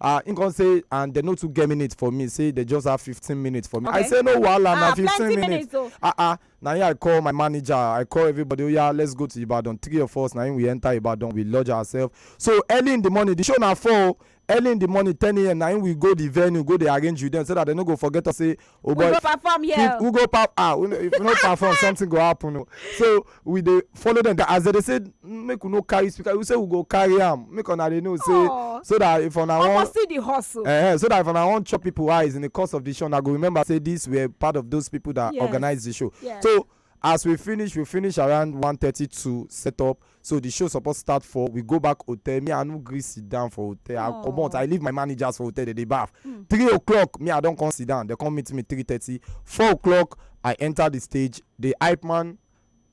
ah him come say and dem no too get minute for me say dem just have fifteen minutes for me i Okay. say no wahala na Ah, fifteen plenty minutes minutes o. ah ah na him i call my manager i call everybody oya let's go to ibadan three of us na him we enter ibadan we lodge ourselves so early in the morning the show na four o early in the morning ten am na him we go the venue go dey arrange with them so that they no go forget us say Oh we boy, go perform here. if we go pap ah we no- if we no perform something go happen o so we dey follow dem down as dem dey say make we no carry speaker we say we go carry am make una dey know say Aw. so that if una Omo wan see the hustle. uh, so that if una wan chop people eyes in the course of the show una go remember say these were part of those people that Yes. organize the show Yes. so as we finish we finish around one thirty two set up so the show suppose start for we go back hotel me i no gree sit down for hotel i comot i leave my managers for hotel dey dey baff three o'clock me i don come sit down dey come meet me three thirty four o'clock i enter the stage the hype man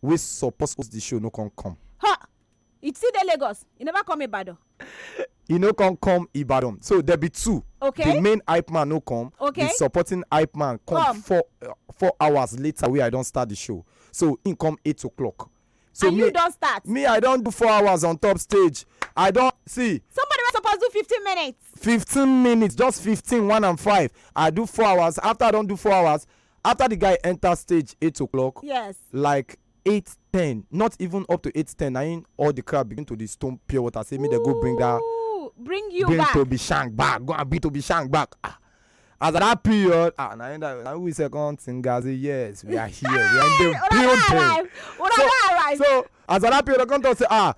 wey suppose host the show no come come. ha You still dey Lagos? You never come Ibadan? e no come come ibadan so there be two Okay. the main hype man no come Okay. the supporting hype man come, Come. four uh, four hours later wey i don start the show so him come eight o'clock so and me you don start. me i don do four hours on top stage i don see Somebody wey suppose do fifteen minutes. fifteen minutes just fifteen one and five i do four hours after i don do four hours after the guy enter stage eight o'clock Yes. like eight ten not even up to eight ten na im all the crowd begin to dey stone pure water say make dem go bring that Ooh, bring you bring back. tobi shank back go and bring tobi shank back ah as at that period ah na im that na we sef come think am say yes we are here we are in the Una don building arrive. Una So- don arrive. so as at that period i come talk say ah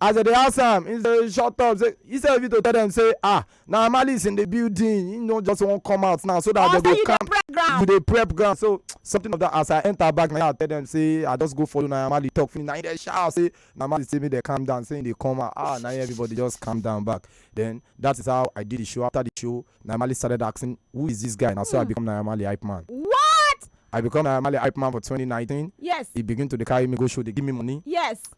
As dem dey ask am, he dey shut up say instead of you to tell dem say ah na Malice in the building, he no just wan come out now so that dem go calm. You dey prep ground so something of that as I enter back na I tell dem say I just go follow na Malice talk finish na he dey shout say na Malice say make dem calm down say he dey come out ah na everybody just calm down back then that is how I did the show after the show na Malice started asking who is this guy na so I hmm. become na Malice hype man. What? I become a Mali hype man for 2019. Yes. He begin to carry me go show, they give me money. Yes.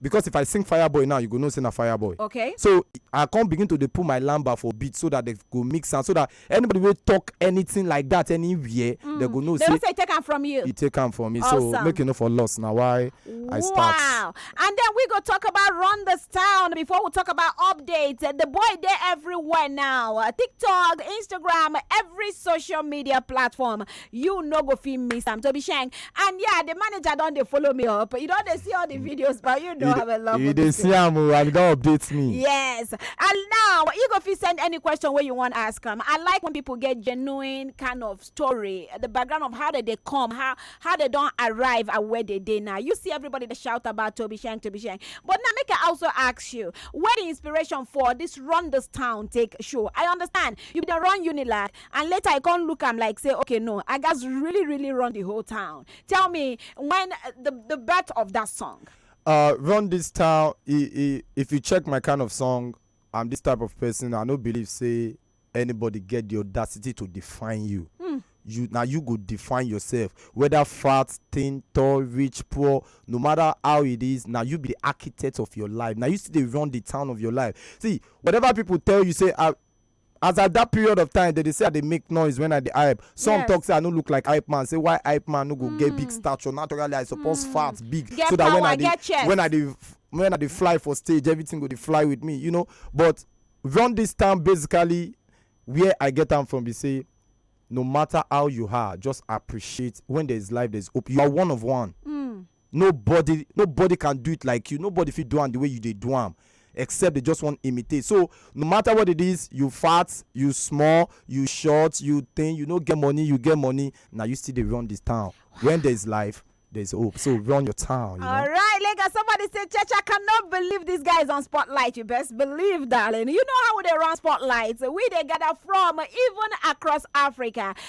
because if I sing fireboy now you go know say na fireboy. Okay. So I come begin to dey put my lamba for beat so that they go mix am so that anybody wey talk anything like that anywhere mm. they go know they say. They say take am from you. He take am from me awesome. so make you no for loss na why wow. I start. Wow and then we go talk about run this town before we talk about updates the boy dey everywhere now uh, TikTok Instagram every social media platform you no go fit miss am to be shank and yeah the manager don dey follow me up you don dey see all the videos but you know i'm a love you dey see am o and you don update me. yes and now you go fit send any question wey you wan ask am i like when people get genuine kind of story the background of how they dey come how how they don arrive and where they dey now you see everybody dey shout about toby shank toby shank but now make i also ask you where the inspiration for this run this town take show i understand you bin dey run unilag and later i come look am like say okay no i gats really really run the whole town tell me when uh, the the birth of that song uh run this town i i if you check my kind of song i'm this type of person i no believe say anybody get the audacity to define you hmm. you na you go define yourself whether fat thin tall rich poor no matter how it is na you be the architect of your life na you still dey run the town of your life see whatever people tell you say ah as at that period of time dem dey say i dey make noise when i dey hype some Yes. talk say i no look like hype man say why hype man no go get big stature naturally i suppose fat big Get so that when power, i dey get chest. when i dey when i dey fly for stage everything go dey fly with me you know but run this town basically where i get am from be say no matter how you are just appreciate when there is life there is hope you are one of one Nobody nobody can do it like you. Nobody fit do am the way you dey do am except they just wan imitate. So no matter what it is, you fat, you small, you short, you thin, you no get money, you get money, na you still dey run this town. When there is life, there is hope. So run your town, you know. All right, Lagos. Somebody said, Church, I cannot believe this guy is on spotlight. You best believe, darling. You know how they run spotlights. We they gather from even across Africa.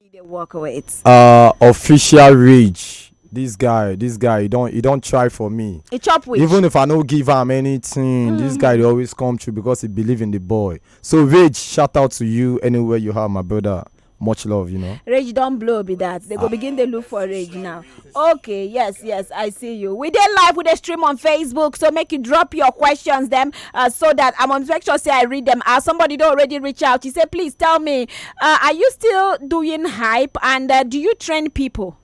you dey work with uh official rage this guy this guy he don he don try for me e chop with even if i no give am anything this guy dey always come through because he believe in the boy so rage shout out to you anywhere you are my brother much love you know rage don blow be that they go begin dey look for rage now okay yes yes i see you we dey live we dey stream on facebook so make you drop your questions dem uh, so that i must make sure say i read them out somebody don already reach out he say please tell me uh, are you still doing hype and uh, do you train people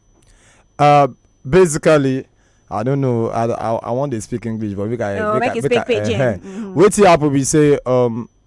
Uh, basically, I don't know. I I, I want to speak English, but we can. No, we make can- you we speak can- pidgin. eh-heh. Mhm. Wetin happen be say um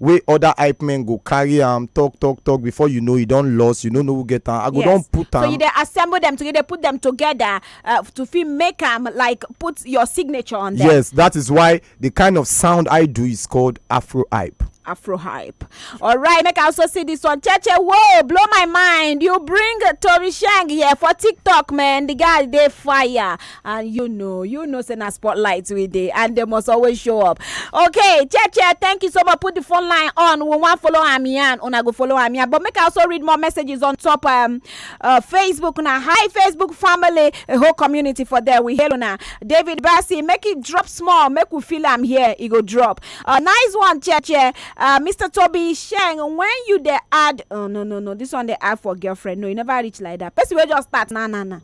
wey other hype men go carry am talk talk talk before you know e don lost you no know who get am i go don put am. so you dey assemble them together dey put them together uh, to fit make am like put your signature on them. yes that is why the kind of sound i do is called afro hype. afro hype all right make i also see this one cheche whoa blow my mind you bring tori shang here for tiktok man the guy dey fire and you know you know say na spotlight we dey and they must always show up okay cheche thank you so much put the phone line on we wan follow am yarn una go follow am yarn but make i also read more messages on top um, uh, facebook na hi facebook family a whole community for there we hail una david bassi make it drop small make we feel am here e go drop uh, nice one cheche uh, mr toby sheng when you dey add oh no no no this one dey add for girlfriend no e never reach like that person wey just start na na na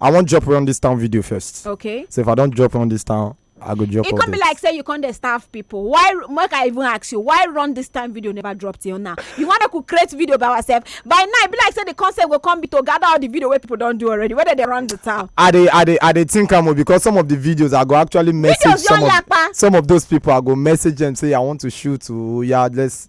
I wan drop run this town video first. okay So if I don't drop run this town, I go drop. e all come be this. like say you come dey starve people why make i even ask you why run this time video never drop till now you wan make we create video by ourselves by now e be like say the concept go come be to gather all the video wey people don do already whether they run the town I dey I dey I dey think am o because some of the videos I go actually message Videos some don of yapa. some of those people I go message them say I want to shoot o yeah let's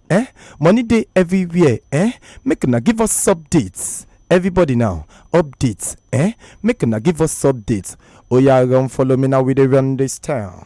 eh money dey everywhere eh make una give us updates everybody now updates eh make una give us updates oya run follow me now we dey run this town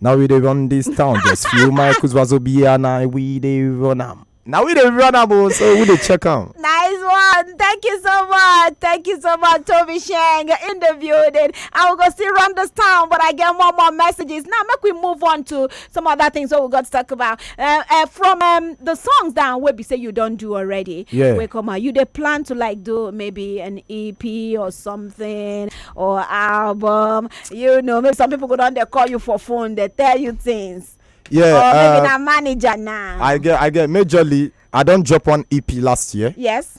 now we dey run this town just few michaels wazobi and i we dey run am na we dey run am o so we dey check am. Nice one. Thank you so much. Thank you so much, Toby Shang, in the building. I will go still run this town, but I get more more messages. Now, make we move on to some other things wey we got to talk about uh, uh, from um, the songs down wey be say you don do already yeah. wey come out you dey plan to like do maybe an ep or something or album you know maybe some people go don dey call you for phone dey tell you things yeah or maybe uh, na manager now i get i get majorly i don drop one ep last year yes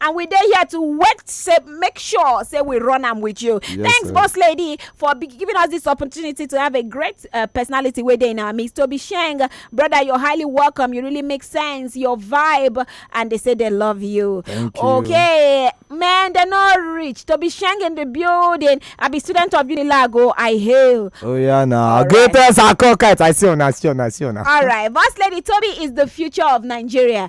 and we dey here to work say make sure say we run am with you yes, thanks sir. boss lady for giving us this opportunity to have a great uh, personality wey dey in our midst tobi sheng brother you're highly welcome you really make sense your vibe and they say they love you Thank you. okay man they're not rich tobi sheng in the building i be student of unilago i hail oh yeah na right. greatest akokite i see una see una see una all right boss lady tobi is the future of nigeria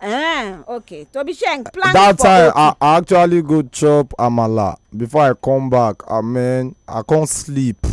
Eh, okay. To be sharing plan that for time I, I actually go chop amala before i come back i mean i come sleep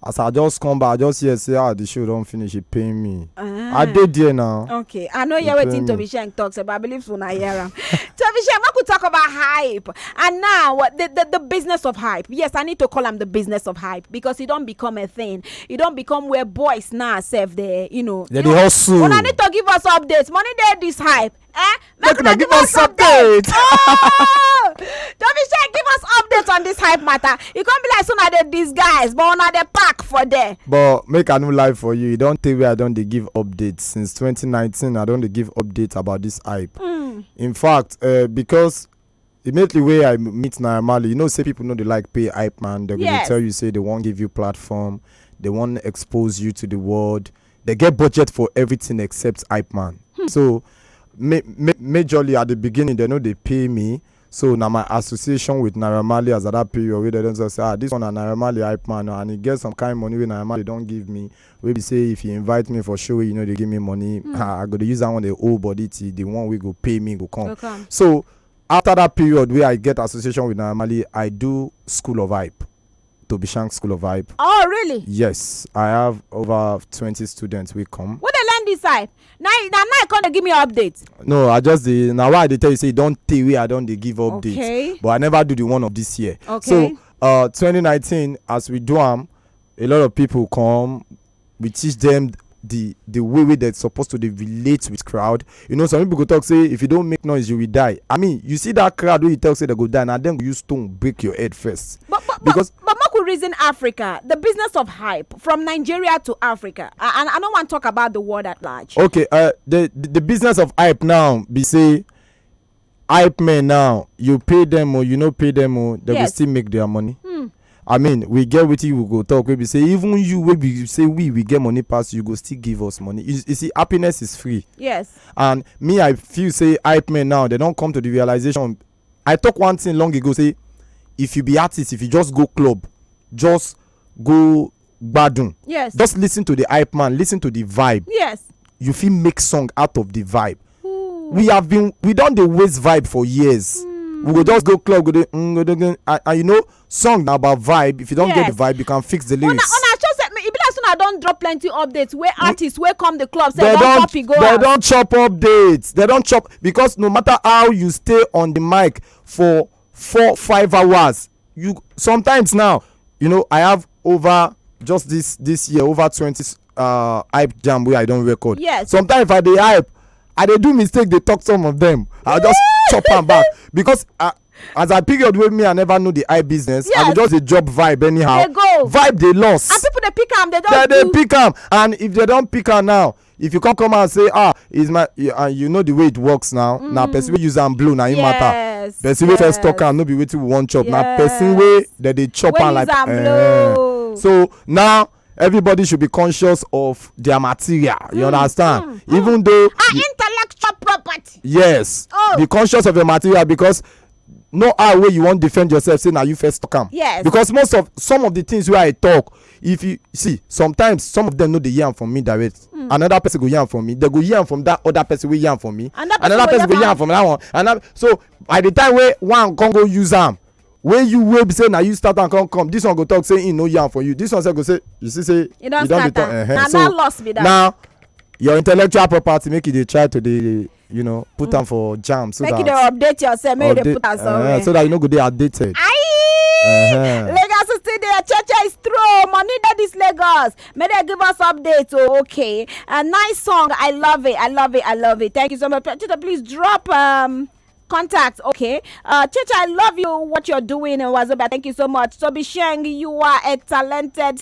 as i just come back i just hear say ah the show don finish e pain me Ah. i dey there now Okay, I know hear Return wetin me. Toby Sheng talks about. I believe una hear am. Toby Sheng, make we talk about hype. And now, what the, the the business of hype. Yes, I need to call am the business of hype because it don't become a thing. e don become where boys now sef dey you know Dem dey hustle. una need to give us update money dey this hype eh Make una give us update. Oh! Tobi Shey give us update on this hype matter e come be like say una dey disguise but una dey pack for there but make i no lie for you e don tey wey i don dey give update since 2019 i don dey give update about this hype in fact uh, because Immediately wey I meet Naira Marley, you know say people no dey like pay hype man. They go dey Yes. tell you say they wan give you platform, they wan expose you to the world. They get budget for everything except hype man. So ma- ma- majorly at the beginning they no dey pay me. So na my association with Naira Marley as at that period wey they don talk say ah this one na Naira Marley hype man oh, and e get some kind money wey Naira Marley don give me wey be say if you invite me for show wey you no dey give me money hmm. ah, i go dey use that one dey hold body till the one wey go pay me go come so after that period wey i get association with naira marley i do school of hype to be shank school of hype oh really yes i have over twenty students wey come wey dey learn this hype na na now you come dey give me update no i just dey na why i dey tell you say e don tey wey i don dey give update okay but i never do the one of this year okay so uh, twenty nineteen as we do am a lot of people come we teach them the the way wey dem suppose to dey relate with crowd you know some people go talk say if you don make noise you will die i mean you see that crowd wey you talk say dem go die na dem go use stone break your head first But but because but, but Maku reason Africa, the business of hype from Nigeria to Africa, A- and I don't want to talk about the world at large. okay uh, the the the business of hype now be say hype men now you pay them o you no pay them o they go Yes. still make their money Hmm. i mean we get wetin we go talk wey be say even you wey be say we we get money pass you go still give us money you, you see happiness is free yes and me i feel say hype men now they don come to the realization i talk one thing long ago say if you be artist if you just go club just go gbadun yes just listen to the hype man listen to the vibe yes you fit make song out of the vibe we have been we don dey waste vibe for years we go just go club go dey mm, go dey go and and you know song na about vibe if you don get Yes. the vibe you can fix the una lyrics una sure say e be like say una don drop plenty updates wey artists wey come the club say they don don copy go they out don chop updates they don chop because no matter how you stay on the mic for four five hours you sometimes now you know i have over just this this year over twenty uh, hype jam wey i don record yes sometimes if i dey hype i dey do mistake dey talk some of them i just chop am back because i as i period wey me i never know the eye business yes. i go just dey drop vibe anyhow they go vibe dey loss and people dey pick am they don they dey pick am and if they don pick am now if you come come out say ah is my you, and you know the way it works now mm. na person wey use am blow na him yes, matter person yes. wey first talk am no be wetin we wan chop yes. na person wey dem dey chop am like eh. so now everybody should be conscious of their material you mm. understand mm. even mm. though ah, you, intellectual property yes oh. be conscious of your material because no eye wey you wan defend yourself say na you first talk am yes because most of some of the things wey i talk if you see sometimes some of them no dey hear am from me direct mm. another person go hear am from me they go hear am from that other person wey hear am from me another, another person, person go hear am from that one another so by the time wey one come go use am wey you wey be say na you start am come come this one go talk say he no hear am for you this one sef go say you see say you don dey talk uh -huh. na so, that loss be that now your intellectual property make you dey try to dey you know put mm. am for jam so make that make you dey update yourself make you dey put am eh, somewhere uh, so that you no go dey outdated. Aye. Uh-huh. Lagos is still there. Cheche is true. Money that is Lagos. May they give us updates. Oh, okay. A nice song. I love it. I love it. I love it. Thank you so much. Please drop um contact. Okay. Uh, Chicha, I love you, what you're doing in Wazoba. Thank you so much. Toby Sheng, you are a talented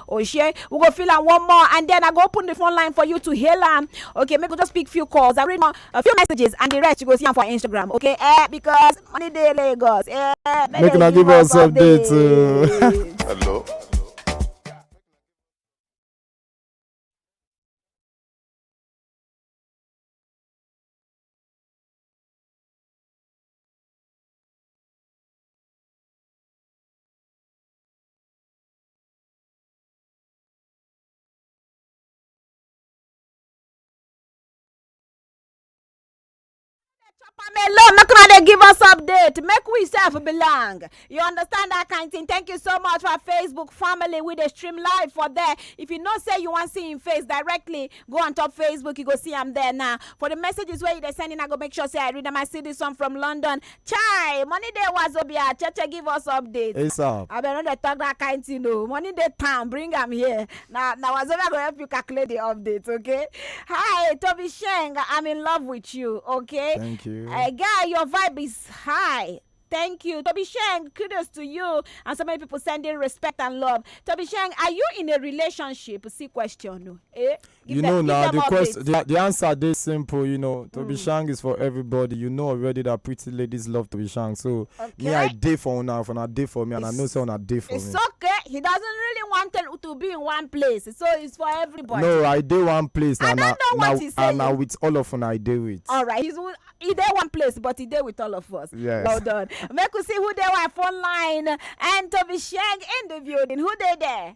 Oshie, we go fill am one more and then I go open the phone line for you to hail am. Okay, make we just pick few calls. I read more, a few messages and the rest you go see am for Instagram. Okay, eh, because money dey Lagos. Eh, make, make una give us update. update. Uh. Hello. alone make una dey give us update make we sef belong you understand that kind thing thank you so much for facebook family we dey stream live for there if you know say you wan see im face directly go on top facebook you go see am there now for the messages wey you dey send in i go make sure say i read am i see this one from london Chai, money dey wazobia, cheche give us update. ASAP. I been no dey talk that kind thing o. Money dey town, bring am here. Na na wazobia go help you calculate the update, okay? Hi, Toby Sheng, I'm in love with you, okay? Thank you. Uh, guy, your vibe is high. Thank you. Toby Sheng, kudos to you. And so many people sending respect and love. Toby Sheng, are you in a relationship? See question. o. Eh? Give you them- know give now them the updates. question the, the answer dey simple you know tobi Mm. shang is for everybody you know already that pretty ladies love tobi shang so me i Okay. dey for una if una dey for me and i know It's- say una dey for It's me okay. He doesn't really want to, to be in one place, so it's for everybody. no i dey one place I and don't know what he's and na saying. with all of una i dey with All right, he's with- he there one place, but he there with all of us. Yes. Well done. Make we see who there were phone line and Toby Shang in the building. Who they there?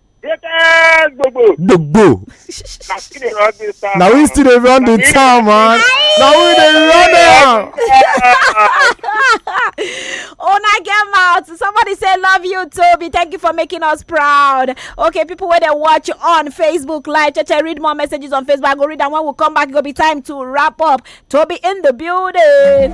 Greatest gbogbo. gbogbo Na still dey run this town. na we still dey run the town man na we dey run am. una get mouth somebody say love you toby thank you for making us proud okay people wey dey watch on facebook live cheche read more messages on facebook i go read am when we come back e go be time to wrap up toby in the building.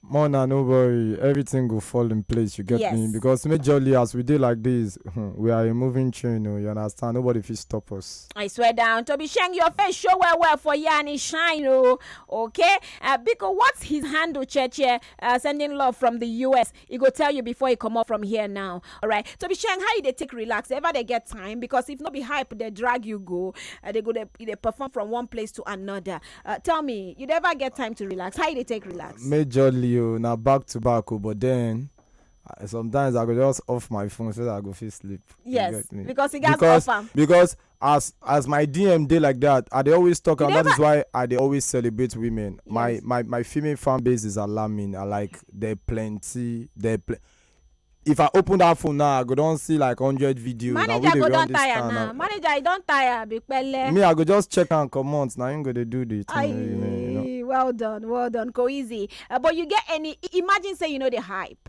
Mona, no worry, everything go fall in place. You get me? Yes. Because majorly as we dey like this, hmm, we are a moving train. Oh, you understand? Nobody fit stop us. I swear down. Toby Sheng, your face show well well for you and it shine. Oh, okay. Uh, Biko, what's his handle, Cheche? Uh, sending love from the US. e go tell you before e comot from here now alright so be sharing how you dey take relax ever dey get time because if no be hype dey drag you go uh, they go dey you dey perform from one place to another uh, tell me you dey ever get time to relax how you dey take relax Majorly o na back to back o but then uh, sometimes I go just off my phone so that I go fit sleep. You yes get me? because e gats Because- offer Because as as my dm dey like that i dey always talk You am that never- is why i dey always celebrate women my Yes. my my female fan base is alarming i like there plenty there pl- if i open that phone now i go don see like hundred videos na we manager dey go run don this tire town now now manager you don tire be pele. me i go just check am comot na him go dey do the thing you know, you know. Aye, well done, well done, go easy. Uh, but you get any? i- Imagine say you know the hype.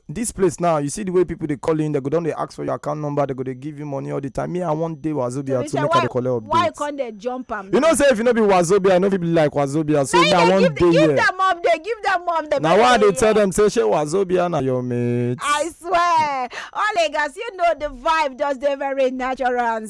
Dis place now, you see the way people dey call in, dem go don dey ask for your account number, dem go dey give you money all the time. Me, I wan dey Wazobia Tobi too, say make I why dey collect why you updates. come dey jump am You know say if you no be Wazobia, you no fit be like Wazobia, so me, I wan give dey give here. dem update give dem update Na make why I dem dey tell hear. them say shey Wazobia na your mate. I swear, all Lagos, you know the vibe just dey very natural and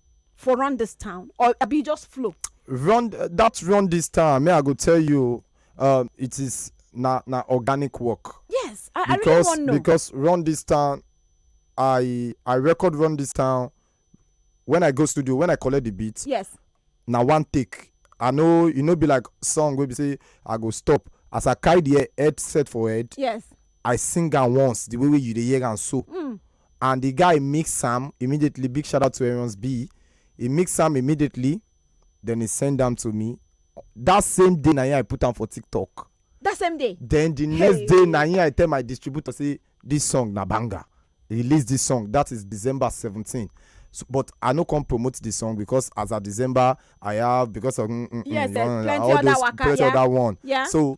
for run this town or abi you just flow. run that run this town me i go tell you um, it is na na organic work. yes i, I really wan know. because run this town i i record run this town when i go studio when i collect the beat. yes. na one take i no e no be like song wey be say i go stop as i carry the headset for head. yes. i sing am once the way wey you dey hear am so. Mm. and the guy mix am immediately big shout out to Arians B he mix am immediately then he send am to me that same day na him I put am for TikTok that same day then the next hey. day na him I tell my distributor say this song na banger release this song that is December seventeen so, but I no come promote the song because as of December I have because of mm, mm, mm yes, mm, yes, plenty all other those waka, plenty yeah. other one yeah so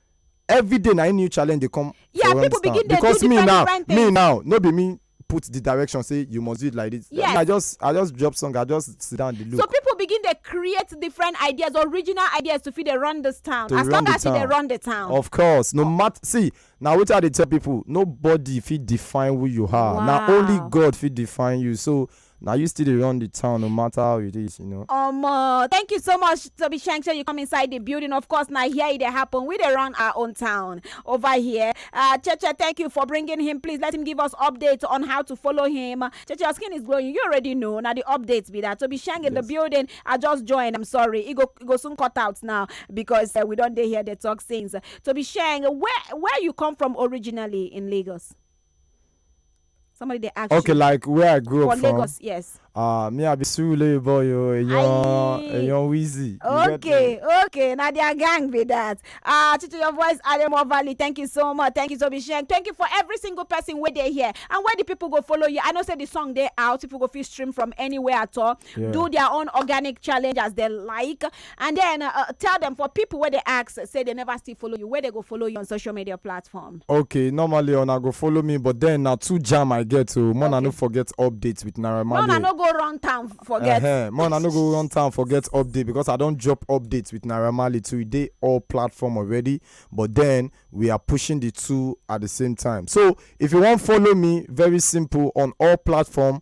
every day na im new challenge dey come Yeah, for where people we stand begin dey do because me different, now different me things. now no be me put the direction say you must do it like this Yes. i just i just drop song i just sit down dey look so people begin dey create different ideas original ideas to fit dey run this town To as run long the as you dey town. run the town of course no matter see na wetin i dey tell people nobody fit define who you are na only Wow. god fit define you so Na you still dey run the town no matter how it is, you know. Omo, thank you so much, Toby Shank. Say you come inside the building. Of course, now here it dey happen. We dey run our own town over here. Uh, Cheche, thank you for bringing him. Please let him give us updates on how to follow him. Cheche, your skin is glowing. You already know. Now the updates be that Toby Shank in the Yes. building. I just joined. I'm sorry. It go, it go soon cut out now because uh, we don't dey here. They talk things. Toby Shank, where where you come from originally in Lagos? somebody dey ask okay you like where i grew for up from lagos yes ah me i be surulere boy o eyan Aye. eyan wheezy you get me? okay okay na their gang be that ah to your voice aremo valley thank you so much thank you so much thank you for every single person wey dey here and where the people go follow you i know say the song dey out people go fit stream from anywhere at all Yeah. do their own organic challenge as they like and then uh, tell them for people where they ask say they never still follow you where they go follow you on social media platform okay normally una go follow me but then na two jam i get o more na no forget update with naira no na marley no go run town forget Ehen, more na no go run town forget update because i don drop update with naira marley too e dey all platform already but then we are pushing the two at the same time so if you wan follow me very simple on all platform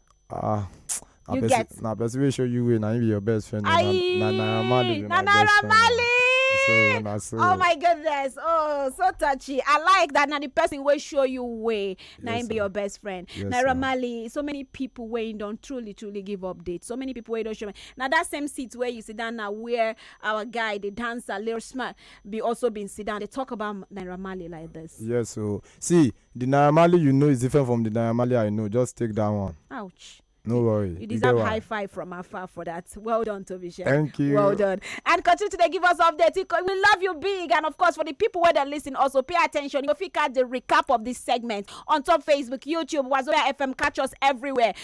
Ah, na You person- get? na person wey show you way na him be your best friend. na- Aye, na Naira Marley be na my best Naira friend. Marley. So na so. Oh my goodness. Oh, so touchy. I like that. Now the person will show you way. Now Yes, him be sir. your best friend. Yes, Naira sir. Marley. So many people where you don't truly, truly give updates. So many people where you don't show me. Now that same seat where you sit down now where our guy, the dancer, Lil Smart, be also been sit down. They talk about Naira Marley like this. Yes, so see, The Naira Marley you know is different from the Naira Marley I know. Just take that one. Ouch. No worry. You get deserve one. high five from afar for that. Well done, Toby Shea. Thank you. Well done. And continue to dey give us updates. It- We love you big. And of course, for the people where they listen, also pay attention. You go fit catch the recap of this segment on top Facebook, YouTube, Wazobia FM. Catch us everywhere.